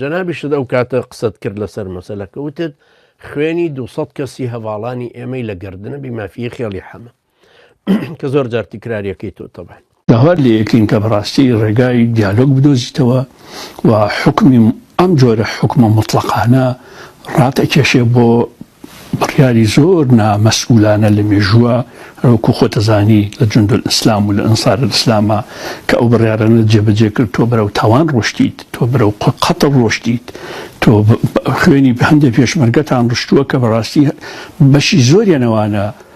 جەنابیشت ئەو کاتە قسەت کرد لەسەر مەسەلەکە وتت خوێنی دوو سەد کەسی هەڤاڵانی ئێمەی لە گەردنە بی مافیی خێڵی حەمە کە زۆر جار تکراریەکەی تۆ تەبان. داوات لێ ئەکەین کە بەڕاستی ڕێگای دیالۆگ بدۆزیتەوە و حوکمی ئەم جۆرە حوکمە موتڵەقانە ڕات ئەکێشێ بۆ بڕیاری زۆر نا مەسئولانە لە مێژووە رەوەکو خۆت ئەزانی لە جوندولئیسلام و لە ئەنسارئیسلامە کە ئەو بڕیارانەت جێ بەجێ کرد تۆ بەرەو تاوان رۆشتیت تۆ بەرەو قەتڵ رۆشتیت تۆ خوێنی هەندێ پێشمەرگەتان رشتووە کە بەراستی بەشی زۆریان ئەوانە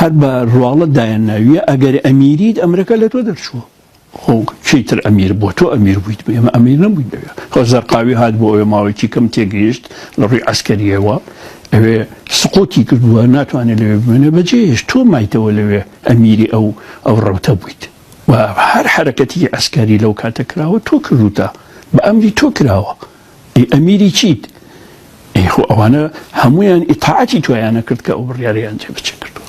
هەر بە ڕواڵەت دایان ناویە ئەگەر ئەمیریت ئەمرەکە لە تۆ دەرچووە خۆ چی تر ئەمیر بۆ تۆ ئەمیر بوویت بە ئێمە ئەمیر نەبوویت دەوێت خۆ زەرقاوی هات بۆ ئەوێ ماوەیەکی کەم تێگەیشت لە ڕووی عسکەریەوە ئەوێ سقۆتی کردووە ناتوانێت لەوێ بمێنێ بەجێش تۆ مایتەوە لەوێ ئەمیری ئەو ئەو ڕەوتە بوویت و هەر حرەکەتی عسکەری لەو کاتە کراوە تۆ کردوتە بە ئەمری تۆ کراوە ئەی ئەمیری چیت؟ ئەی خۆ ئەوانە هەموویان ئیتاعەتی تۆیانە کرد کە ئەو بڕیارەیان جێبەجێ کردووە.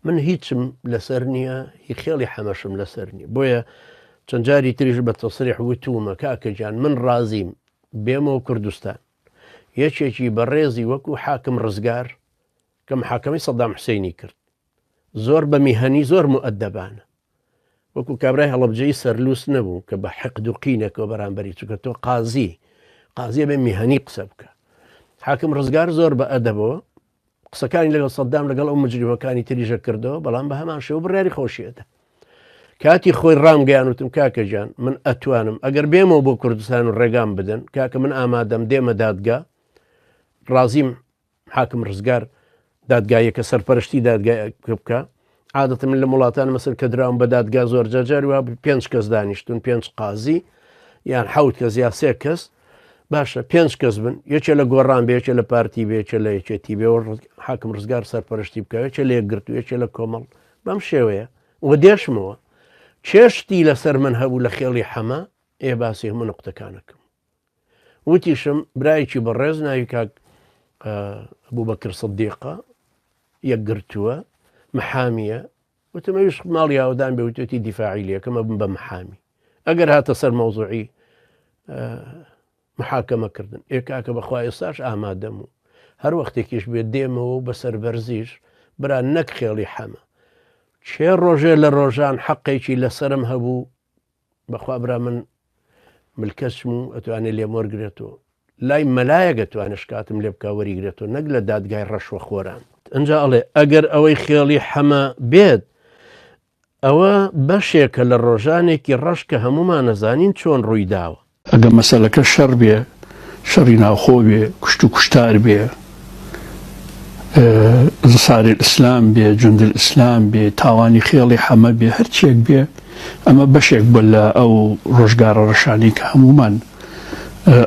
من هیچم لەسەر نییە، هی خێڵی حەمەشم لەسەر نییە، بۆیە چەند جاری تریش بە تەسریح وتوومە، کاکە گیان من ڕازیم بێمەوە کوردستان، یەکێکی بەڕێزی وەکوو حاکم ڕزگار کە محاکەمەی سەدام حوسێنی کرد، زۆر بە میهەنی زۆر موئەدەبانە، وەکو کابرای هەڵەبجەیی سەرلووس نەبوو کە بە حقد و قینەکەەوە بەرامبەری چووکە تۆ قازی قازیە بێ میهنی قسە بکە حاکم ڕزگار زۆر بە ئەدەبەوە قسەکانی لەگەڵ سەددام لەگەڵ ئەو مجریمەکانی تریژە کردەوە بەڵام بە هەمان شێو بڕیاری خۆشیێتە کاتی خۆی ڕامگەیان وتم کاکەژان من ئەتوانم ئەگەر بێمەوە بۆ کوردستان و ڕێگام بدەن کاکە من ئامادەم دێمە دادگا ڕازیم حاکم ڕزگار، دادگاییەکە سەرپەرشتی دادگایەکە بکا. عادەتەن من لەم وڵاتانە مەسەن کە دراوم بە دادگا زۆر جار جاری وا بوو پێنج کەس دانیشتون پێنج قازی یان حەوت کەس یا سێ کەس باشە پێنج کەس بن یەکێ لە گۆڕان بێ یەکێ لە پارتی بێ یەکێ لە یەکێتی بێ و ڕز- حاکم ڕزگار سەرپەرشتی بکە یەکێ لە یەکگرت و یەکێ لە کۆمەڵ بەم شێوەیە و دێشمەوە چێشتی لەسەر من هەبوو لە خێڵی حەمە ئێ باسی هەموو نقطەکانەکەم وتیشم برایەکی بەڕێز ناوی کاک بوبەکر سدیقە یەکگرتووە محامیە وتم ئەوش ماڵی ئاودان بێ وتێتی دیفاعی لەکەمە بم بە محامی ئەگەر هاتە سەر مەوزوعی محاکەمە کردن ئێ کاکە بەخوا ئێستاش ئامادەم و هەر وەختێکیش بێ دێمەوە و بەسەر بەرزیش برا نەک خێڵی حەمە چێ ڕۆژێ لە ڕۆژان حەقێکی لەسرم هەبوو بەخوا برا من ملکەچم و ئەتوانێ لێم وەرگرێتەوە لای مەلایەک ئەتوانێ شکاتم لێ بکا وەریگرێتەوە نەک لە دادگای ڕەشوە خۆران ئەجا ئەڵێ ئەگەر ئەوەی خێڵی حەمە بێت ئەوە بەشێکە لە ڕۆژانێکی ڕەش کە هەمومان ئەزانین چۆن ڕووی داوە ئەگەر مەسەلەکە شەڕ بێ، شەڕی ناوخۆ بێ، کوشت و کوشتار بێ، ئنسارالئیسلام بێ، جوندالئیسلام بێ، تاوانی خێڵی حەمە بێ، هەر چییەک بێ، ئەمە بەشێک بووە لە ئەو ڕۆژگارە ڕەشانەی کە هەموومان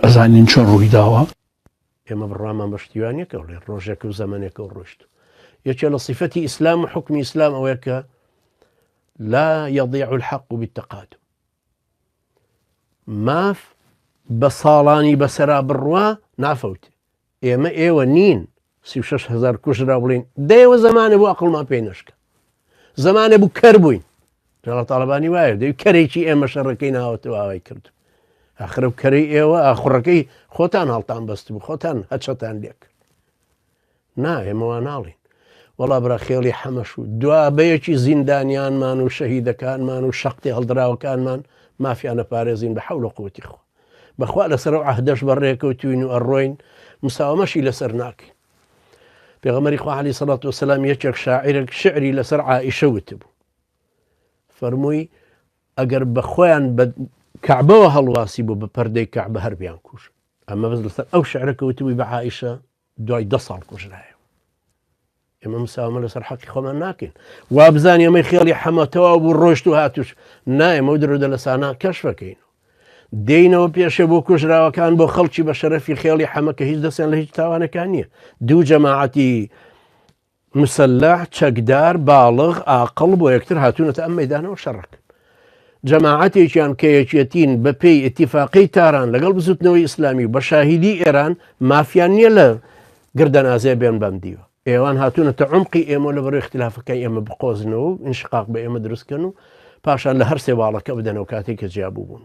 ئەزانین چۆن ڕووی داوە. ئێمە بڕوامان بە شتیوانییەکە بڵێین ڕۆژێک و زەمەنێکە و ڕۆیشت و. یەکێ لە سیفەتی ئیسلام و حوکمی ئیسلام ئەوەیە کە، لا یەضیع الحق بالتقادم، ماف بە ساڵانی بەسەرا بڕوا نافەوت ئێمە ئێوە نین سی شش هزار کوژرا بڵین دەیەوە زمانە بۆ ئەقلمان پێی نشکە زمانە بوو کەر بووین جاڵە تاالبانی وایە دەی کەرێکی ئێمە شەڕەکەی ناوەتەوە ئاوای کرد ئەخرە کەری ئێوە ئاخڕەکەی خۆتان هەڵتان بەست بوو خۆتان هەچەتان لێک نا ئێمە وا ناڵێین. وەڵا برا خێڵی حەمەش و دوابەیەکی زیندانیانمان و شەهیدەکانمان و شەقتی هەڵدراوەکانمان مافیان ئەپارێزین بە حەول و قوتی خوا. بەخوا لەسەر ئەو عەهدەش بەڕێکەوتووین و ئەڕۆین مساوەمەشی لەسەر ناکەین. پێغەمبەری خوا عەلەیهی سەڵات وسەلام یەکێک شاعیرێک شعری لەسەر عائیشە وتبوو. فەرمووی ئەگەر بە خۆیان بە کەعبەوە هەڵواسی بوو بە پەردەی کەعبە هەر بیان کوژ. ئەمە بەس لەسەر ئەو شعرە کەوتبووی بە عائیشە دوای دە ساڵ کوژرایە ئێمە مساومە لەسەر حەقی خۆمان ناکەین وابزان ئێمەی خێڵی حەمەتەوە بوو ڕۆشت و هاتوش نایەمە و درۆدە لە سانا کەشفەکەین دێینەوە پێشە بۆ کوژراوەکان بۆ خەڵکی بە شەرەفی خێڵی حەمەکە هیچ دەستیان لە هیچ تاوانەکان نییە دوو جەماعەتی مسلح، چەکدار، باڵغ، ئاقڵ بۆ یەکتر هاتوونەتە ئەم مەیدانەوە شەڕەکەن. جەماعەتێکیان کە یەکیەتین بە پێی ئتیفاقی تاران لەگەڵ بزوتنەوەی ئیسلامی و بە شاهیدی ئێران مافیان نییە لە گردەنازێ بێن بەم دیوە. ئێوان هاتوونەتە عمقی ئێمە لە بەرەوەی اختلافەکە ئێمە بقۆزنەوە و انشقاق بە ئێمە دروستکەن و پاشان لە هەر سێ باڵەکە بدەنەوە کاتێک کە جیابوو بوون.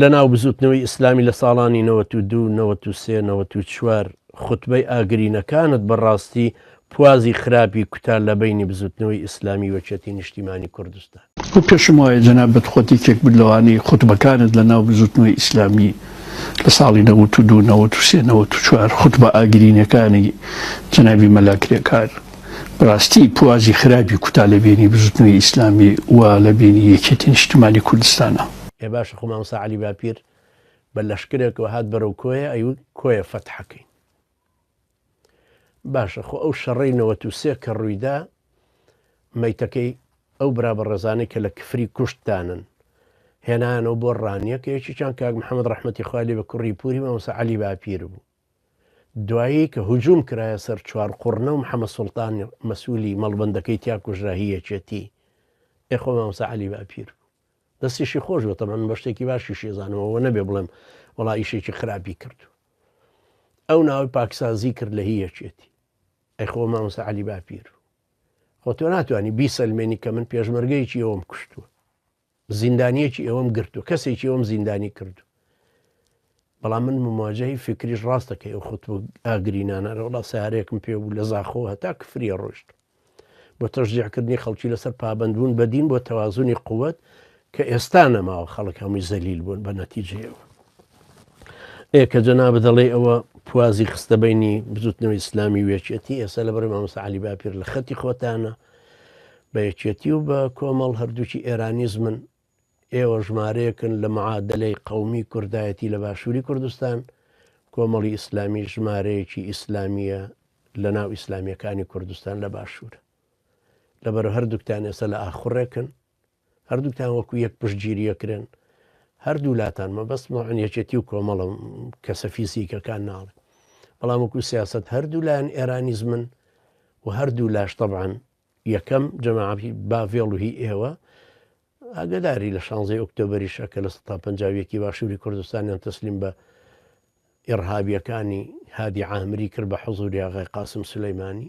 لە ناو بزوتنەوەی ئیسلامی لە ساڵانی نەوەت و دوو نەوەت و سێ نەوەت و چوار خوتبەی ئاگرینەکانت بە ڕاستی پوازی خراپی کوتا لە بەینی بزوتنەوەی ئیسلامی وەکیەتی نیشتیمانی کوردستان. گو پێشم وایە جەنابت خۆت یەکێک بوت لەوانەی خوتبەکانت لە ناو بزوتنەوەی ئیسلامی لە ساڵی نەوەت و دوو نەوەت و سێ نەوەت و چوار خوتبە ئاگرینەکانی جەنابی مەلا کرێکار بەراستی پوازی خراپی کوتا لە بینی بزوتنەوەی ئیسلامی و لە بینی یەکێتی نیشتمانی کوردستانە. ئێ باشە خۆ مامۆستا عەلی باپیر بە لەشکرێکەوە هات بەرەو کۆیە ئەیوت کۆیە فەتحەکەین باشە خۆ ئەو شەڕەی نەوەت و سێ کە ڕوویدا مەیتەکەی ئەو برا بە ڕێزانەی کە لە کفری کوشتدانن هێنانەوە بۆ ڕانیەکە یەکیان کاک محەممەد ڕحمەتی خالی بە کوڕی پوری مامۆسا علی باپیر بوو دوایی کە هجوم کرایە سەر چوار قوڕنە و محمد سوڵتان مەسولی مەڵبەندەکەی تیا کوژرا هی یەکێتی ئێ خۆ مامۆستا عەلی باپیر بوو دەستیشی خۆش بێت تەبەن بە شتێکی باشیشی زانم ئەوە نەبێ بڵێم وەڵا ئیشێکی خراپی کردو ئەو ناوی پاکسازی کرد لە هی یەکێتی ئەی خۆ مامۆستا عەلی باپیر خۆ تۆ ناتوانانی بیسەلمێنی کە من پێشمەرگەیەکی ئەوم کوشتووە زیندانیەکی ئێوەم گرت و کەسێکی ئەوم زیندانی کرد و بەڵام من مماجهی فکریش ڕاستە کە ئەو خۆت ئاگرینانە ڕەوڵا سارێکم پێ بوو لە زاخۆ هەتا کفریە ڕۆشت بۆ تەژدیعکردنی خەڵکی لەسەر پابندبوون بەدین بۆ تەوازنی قوت کە ئێستا نەماوە خەڵک هەمووی زەلیل بوون بە نەتیجەوە ئێ کە جەنا بدەڵێ ئەوە پوازی خستە بینی بزوتنەوە ئیسلامی وێچێتی ئێستا لە بەرەی مامۆسا علی باپیر لە خەتی خۆتانە بە یەکێتی و بە کۆمەڵ هەردووکی ئێرانیزمن، ئێوە ژمارەیەکن لە معادەلەی قەومی کوردایەتی لە باشووری کوردستان، کۆمەڵی ئیسلامیش ژمارەیەکی ئیسلامییە لە ناو ئیسلامییەکانی کوردستان لە باشوور. لەبەرە هەردووکتان ئێستا لە ئاخوڕێکن. هەردووکتان وەکو یەک پشتگیری ئەکرێن هەردوولاتان مەبەست مەعن یەکێتی و کۆمەڵە کەسە فیزیکەکان ناڵێ بەڵام وەکو سیاست هەردوو لایەن ئێرانیزمن و هەردوو لاش طبعاان یەکەم جەماعی باڤێڵ و هی ئێوە ئاگداری لە شانزەی ئۆکتۆبریشە کە لە 150ەکی باشووری کوردستانیان تەسلیم بە ئێڕهابیەکانی هادی عامری کرد بە حزوری ئاغای قاسم سلەیمانی